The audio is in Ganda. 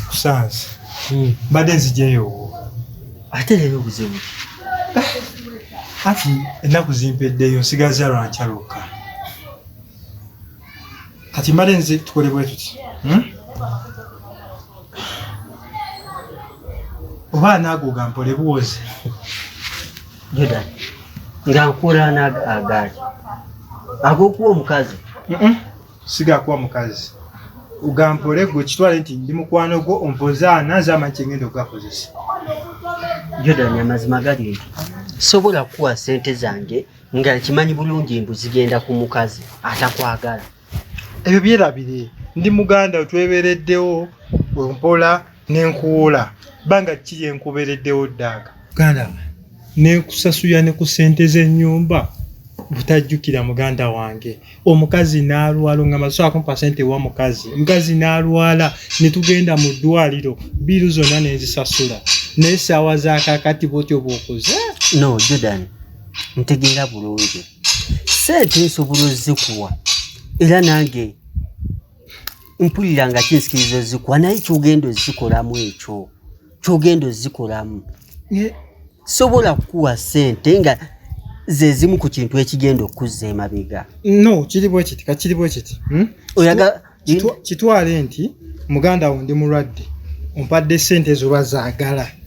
kusanze hmm. mbadde nzijeyo ate leero obuzibu anti ennaku zimpeddeyo nsigaza lwankya lwokka kati mbadde nze tukole bwe tuti hmm? oba anaago gampole buwozi Jordan nga nkula n'agaali ag'okuwa omukazi sigakuwa mukazi ugampole gwe kitwale nti ndi mukwano gwo ompozaana nze amanyi kyengenda okugakozesa Jordan amazima gali nti sobola kukuwa sente zange nga nkimanyi bulungi mbu zigenda ku mukazi atakwagala ebyo byerabire ndi muganda otwebereddewo wempola nenkuwoola banga kiri enkubereddewo ddaaga ganda nenkusasuya ne ku sente z'ennyumba butajjukira muganda wange omukazi n'alwala ongamba so akumpa sente wa mukazi omukazi n'alwala ne tugenda mu ddwaliro biiru zonna nenzisasula naye saawa zakakati bwotyo bwokoze no jordan ntegeera bulungi sente nsobola ozikuwa era nange mpulira nga kinsikiriza ozikuwa naye kyogenda ozikolamu ekyo kyogenda ozikolamu sobola kukuwa sente nga zezimu ku kintu ekigenda okuzza emabega no kiri bwekiti kakiri bwekiti hmm? oyaga kitwale nti muganda wo ndi mulwadde ompadde sente ezo bazagala